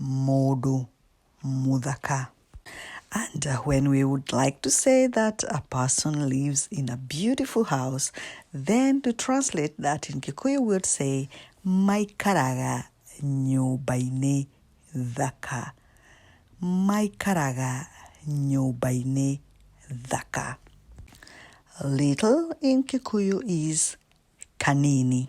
Mũndũ mũthaka. And uh, when we would like to say that a person lives in a beautiful house, then to translate that in Kikuyu, we would say, maikaraga nyũmba-inĩ thaka. Maikaraga nyũmba-inĩ thaka. Little in Kikuyu is kanini.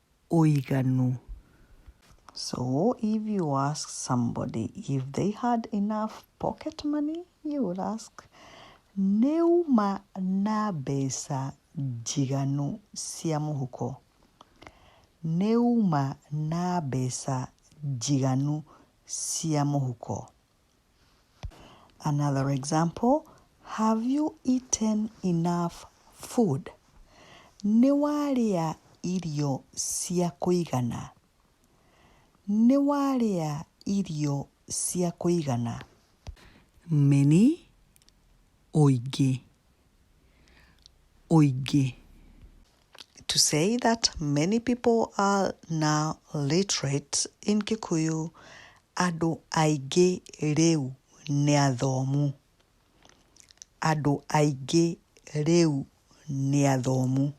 ũiganu. So if you ask somebody if they had enough pocket money, you will ask nĩuma na mbeca njiganu cia mũhuko. Nĩuma na mbeca njiganu cia mũhuko. Another example, Have you eaten enough food? Nĩ warĩa irio cia kũigana? Nĩ warĩa irio cia kũigana? Many, ũingĩ, ũingĩ. to say that many people are now literate in Kikuyu, andũ aingĩ rĩu nĩ athomu. Andũ aingĩ rĩu nĩ athomu.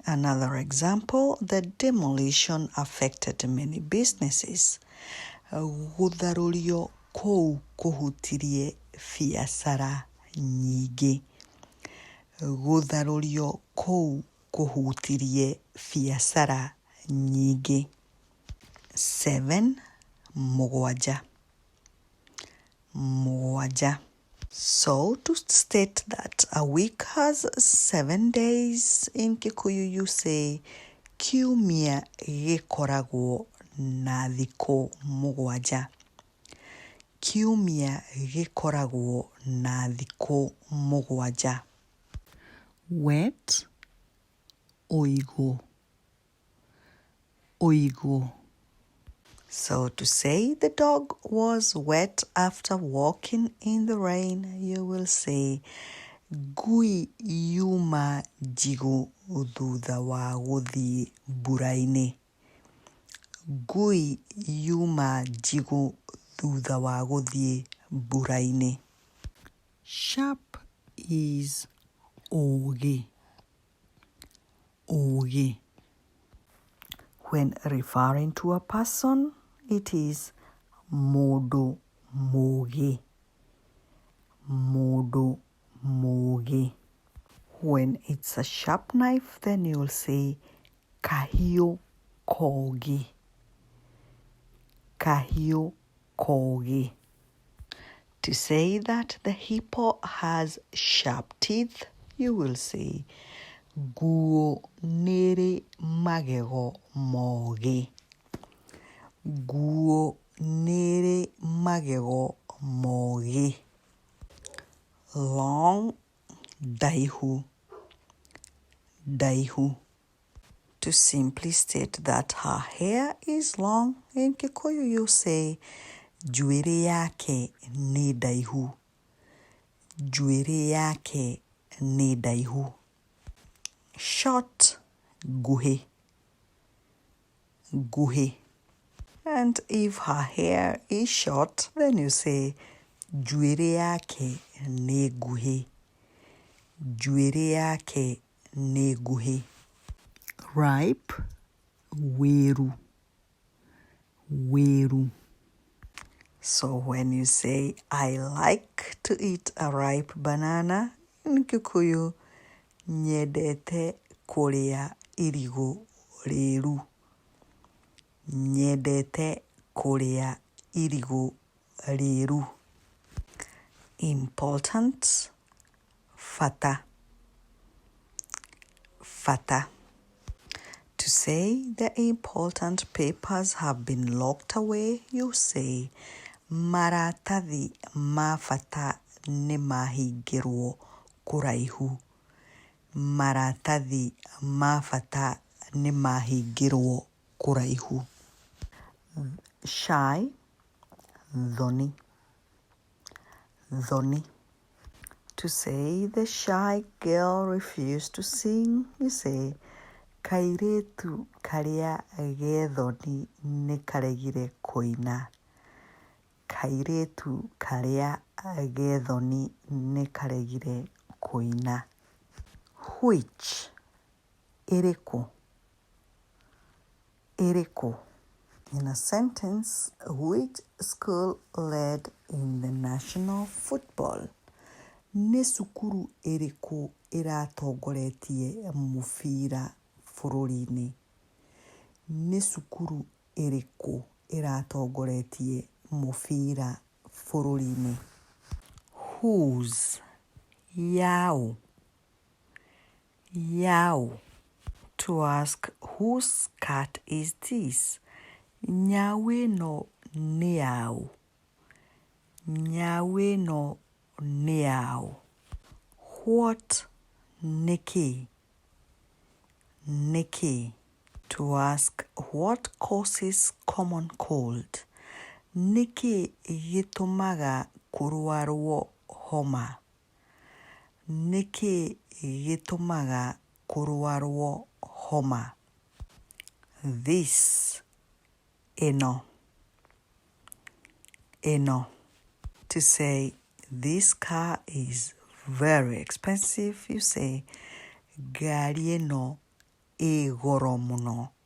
Another example, the demolition affected many businesses. Gũtharũrio kũu kũhutirie biacara nyingĩ. Gũtharũrio kũu kũhutirie biacara nyingĩ. Seven, mũgwanja. Mũgwanja. So to state that a week has seven days in Kikuyu you say kiumia gĩkoragwo na thikũ mũgwanja. Kiumia gĩkoragwo na thikũ mũgwanja. Wet, ũigũ, ũigũ. So to say the dog was wet after walking in the rain, you will say ngui yuma njigũ thutha wa gũthiĩ mbura-inĩ. Ngui yuma njigũ thutha wa gũthiĩ mbura-inĩ. Sharp is ũũgĩ, ũũgĩ. When referring to a person, it is mũndũ mũũgĩ, mũndũ mũũgĩ. When it's a sharp knife then you will say kahiũ kogĩ. Kahiũ kogĩ. To say that the hippo has sharp teeth, you will say nguũ nĩrĩ magego mogĩ. Nguũ nĩrĩ magego mogĩ. long ndaihu ndaihu to simply state that her hair is long in kikuyu you say njuĩrĩ yake nĩ ndaihu njuĩrĩ yake nĩ ndaihu short nguhĩ nguhĩ. And if her hair is short, then you say njuĩrĩ yake nĩ nguhĩ. Njuĩrĩ yake nĩ nguhĩ. Ripe, wĩru. Wĩru. So when you say, I like to eat a ripe banana, in Kikuyu, Nyendete kũrĩa irigũ rĩru. Nyendete kũrĩa irigũ rĩru. Important, bata, bata. To say the important papers have been locked away, you say, Maratathi ma bata nĩ mahingĩrwo kũraihu. Maratathi ma bata nĩ mahingĩrwo kũraihu. Shy, thoni. thoni. To say the shy girl refused to sing, you say, kairĩtu karĩa gethoni nĩ karegire kũina. Kairĩtu karĩa gethoni nĩ karegire kũina. Which ĩrĩ kũ? ĩrĩ kũ? In a sentence, which school led in the national football? Nĩ cukuru ĩrĩkũ ĩratongoretie mũbira bũrũri-inĩ? Nĩ cukuru ĩrĩkũ ĩratongoretie mũbira bũrũri-inĩ? Whose? Yaũ? Yaw! To ask whose cat is this? Nyau ĩno nĩ yaũ? Nyau ĩno nĩ yaũ? What? Nĩ kĩĩ? Nĩ kĩĩ? To ask what causes common cold? Nĩ kĩĩ gĩtũmaga kũrwarwo homa? Nĩ kĩĩ gĩtũmaga kũrwarwo homa? This, ĩno, ĩno. To say this car is very expensive, you say ngari ĩno ĩĩ goro mũno.